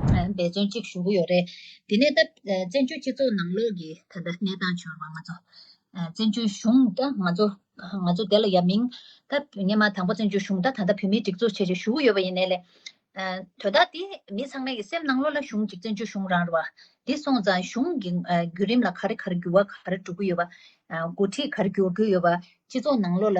འབད་བརྩོན་གཅིག་ཞུ་གི་ཡོད་རེད། དེ་ནས་ད་བཙན་བྱོལ་སྤྱི་ཚོགས་ནང་ལོགས་ཀྱི་ད་ལྟ་གནས་སྟངས་བྱུང་བ་ང་ཚོ་བཙན་བྱོལ་གཞུང་ད་ང་ཚོ་ང་ཚོ་དེ་ལ་ཡ་མིན་ད་ངེད་མ་དང་པོ་བཙན་བྱོལ་གཞུང་ད་ད་ལྟ་བོད་མིའི་སྒྲིག་འཛུགས་བྱེད་ཆེད་ཞུ་གི་ཡོད་པ་ཡིན་ནས་ལས། དོ་བདག་དེ་མི་ཚང་མའི་སེམས་ནང་ལོགས་ལ་གཞུང་གཅིག་བཙན་བྱོལ་གཞུང་རང་རེད་བ། དེ་སོང་ཙང་གཞུང་གི་བརྒྱུད་རིམ་ལ་ག་རེ་ག་རེ་འགྱུར་བ་ག་རེ་འགྲོ་གི་ཡོད་པ། འགོ་ཁྲིད་ག་རེ་འགྱུར་གྱི་ཡོད་པ་སྤྱི་ཚོགས་ནང་ལོགས་ལ་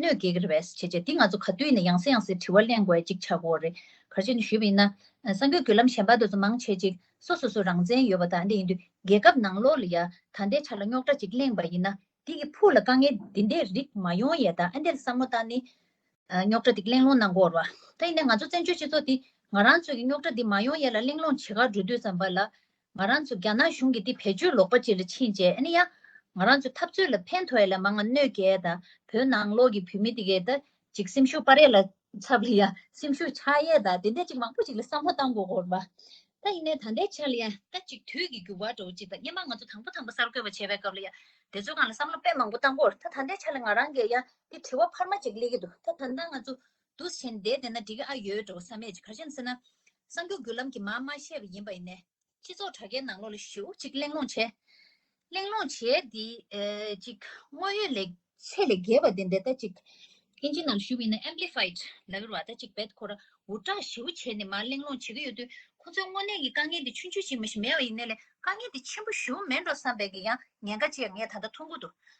གནོད་བགེགས་རེ་བས་བྱེད་ཅེས་འདི་ང་ཚོ་ག་དུས་ནས་ཡང་སེ་ཡང་སེ་དྲི་བ་གླེང་དགོས་ཅིག་ཆགས་འོ་རེད་གར་བྱེད་འདི་ཞུས་པ་ཡིན་ན། སངས་རྒྱས་རྒྱུད་ལམ་གཞན་པ་དེ་ཚོ་མང་ཆེ་ཅིག་སོ་སོ་སོ་རང་བཙན་ཡོད་པ་དང་འདི་ཡིན་དུས་རྒྱལ་ཁབ་ནང་ལོག་ལ་ཡ་ད་ལྟའི་ཆ་ལ་རྙོག་དྲ་ཅིག་གླེང་པ་ཡིན་ན། འདི་གི་ཕུགས་ལ་དཀའ་ངལ་འདི་འདྲའི་རིགས་མ་ཡོང་ཡས་དང་ཨ་འདི་ལ་བསམ་བློ་བཏང་ནི། རྙོག་དྲ་འདི་གླེང་སློང་གནང་དགོས་རོགས། ད་ཡིན་ན་ང་ཚོ་བཙན་བྱོལ་སྤྱི་ཚོགས་འདི་ང་རང་ཚོས་ཀྱི་རྙོག་དྲ་འདི་མ་ཡོང་ཡས་ལ་གླེང་སློང་བྱེད་ག་འགྲོ་དུས་བསམ་པ་ལ། ང་རང་ཚོ་རྒྱ་ནག་གཞུང་གིས་འདི་བེད་སྤྱོད་ལོག་པ་ཅིག་ལ་ཕྱིན་རྗེས་ཨ་ནི་ཡ། ང་རང་ཚོའི་འཐབ་རྩོད་ལ་ཕན་ཐོགས་ཡ་ལ་མ་ང་གནོད་གལ་ད། བོད་ནང་ལོག་གི་བོད་མི་འདི་གས་ད། ཅིག་སེམས་ཤུགས་སྤར་ཡ་ལ། ཚ་བར་ཡ། སེམས་ཤུགས་ཆགས་ཡས་ད་དེ་འད་ཅིག་མང་པོ་ཅིག་ལ་བསམ་བློ་གཏང་དགོས་གོར་བ། ད་ཡིན་ནའི་ད་འད་ཆགས་ལ་ཡ། ད་ཅིག་དུས་ཀྱི་འགྱུར་བ་འགྲོ་ཅིག་ད་སྙན་མ་ང་ཚོ་དང་པོ་དང་པོ་གསར་འགོད་པ་བྱས་པའི་སྐབས་ལ་ཡ། དེ་ཚོའི་སྒང་ལ་བསམ་བློ་དཔེ་མང་པོ་གཏང་གོར་ད་ད་འད་ཆགས་ལ་ང་རང་གས་ཡ། འདི་དྲི་བ་འཕར་མ་ཅིག་གླེགས་ཀྱི་འདུག་ད་ད་ད་ང་ཚོ། དུ་ཟིན་བསྡད་བསྡད་ན་འགྲིག་གི་ཨ་ཡོད་འགྲོ་བསམ་མེད་ཅིག་ག་རེ་བྱེད་ཟེར་ན། གསང་རྒྱུག་བརྒྱུད་ལམ་གྱི་མ་མ་ཤེས་པ་ཡིན་པ་ཡིན་ནས། སྤྱི་ཚོགས་དྲ་རྒྱའི་ནང་ལོགས་ལ་ཞིབ་ཅིག་གླེང་སློང་བྱས། གླེང་སློང་བྱས་དེ། ཅིག་དངོས་ཡོད་ལེགས་ཚད་ལས་བརྒལ་བ་དེ་འདི་ལྟ་ཅིག། དབྱིན་ཇིའི་ནང་ཞུགས་ཡིན་ན Amplified ལ་ཡོད་པ་ལྟ་ཅིག་བེད་ཁོ་ར་འུར་སྒྲགས་ཞིབ་བྱས་ནས་མར་གླེང་སློང་བྱེད་ཀྱི་ཡོད་དུས་ཁོ་ཚོའི་དངོས་གནས་ཀྱི་དཀའ་ངལ་དེ་ཆུང་ཆུང་ཞིག་མི་ཞིག་མེད་པ་ཡིན་ནས་ལས་དཀའ་ངལ་དེ་ཆེན་པོ་ཞུ་མེད་འགྲོ་བསམ་པའི་ཀྱང་ཉེན་ཁ་ཅིག་ངས་ད་ལྟ་ཐུགས་འགུ་འདུག་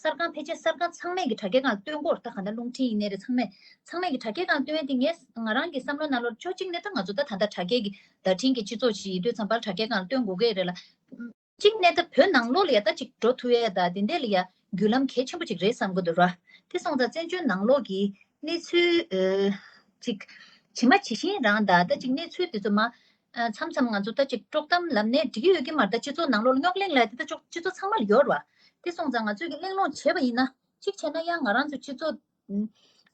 གསར་ཁང་ཕལ་ཆེར་གསར་ཁང་ཚང་མས་ཀྱི་དྲ་རྒྱ་ཁང་སྟོན་སྐོར་ད་ག་འདྲ་རླུང་འཕྲིན་ཡིག་གནས་རེད་ཚང་མས་ཚང་མས་ཀྱི་དྲ་རྒྱ་ཁང་སྟོན་དེ་ངས་ང་རང་གི་བསམ་བློ་རྣ་ལོར་ཅོ་གཅིག་ནས་ད་ང་ཚོ་ད་ད་ལྟ་དྲ་རྒྱའི་གི་བརྡ་འཕྲིན་གྱི་སྤྱི་ཚོགས་ཤིག་ཡིན་དུས་ཚང་བར་དྲ་རྒྱ་ཁང་སྟོན་དགོས་གི་རེད་ལ། གཅིག་ནས་ད་བོད་ནང་ལོགས་ལ་ཡ་ད་ཅིག་འགྲོ་ཐུ་ཡ་ད་དེ་འད་ལ་ཡ་རྒྱུ་ལམ་གལ་ཆེན་པོ་ཅིག་རེད་བསམ་གི་འདུག་ར་དེ་སོང་ཙང་བཙན་བྱོལ་ནང་ལོགས་གི་གནས་ཚུལ་ཅིག་ཇི་མ་ཇི་བཞིན་རང་ད་ད་ཅིག་གནས་ཚུལ་དེ་ཚོ་མ་མཚམས་མཚམས་ང་ཚོ་ལྟ་ཅིག་དཀྲོག་གཏམ་ལབ་ནས་འགྲིག་གི་ཡོད་ཀྱི་མ་རེད་ད་སྤྱི་ཚོགས་ནང་ལོག་རྙོག་གླེང་ལ་དེ་ལྟ་ཅོག་སྤྱི་ཚོགས་ཚང་མར་ཡོད་རེད་བ། དེ་སོང་ཙང་ང་ཚོས་ཀྱི་གླེང་སློང་བྱེད་པ་ཡིན་ན། གཅིག་བྱས་ན་ཡང་ང་རང་ཚོ་སྤྱི་ཚོགས།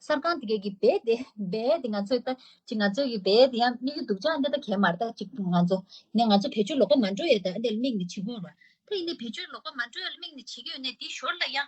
གསར་ཁང་དེ་གས་ཀྱི་རྦད་དེ་རྦད་དེ་ང་ཚོས་ལྟ་ཅིག་ང་ཚོས་ཀྱི་རྦད་དེ་ཡང་དམིགས་ཡུལ་འདུག་ཅག་འདི་ལྟ་གས་མ་རེད་ལྟ་ཅིག་ང་ཚོ། ནས་ང་ཚོ་བེད་སྤྱོད་ལོག་པ་མ་འགྲོ་ཡས་ད་འདི་ལ་དམིགས་ནས་བྱེད་དགོས་རེད་བ། དེ་ཡིན་ནས་བེད་སྤྱོད་ལོག་པ་མ་འགྲོ་ཡས་ལ་དམིགས་ནས་བྱེད་ཀྱི་ཡོད་ནས་དེའི་ཞོར་ལ་ཡང།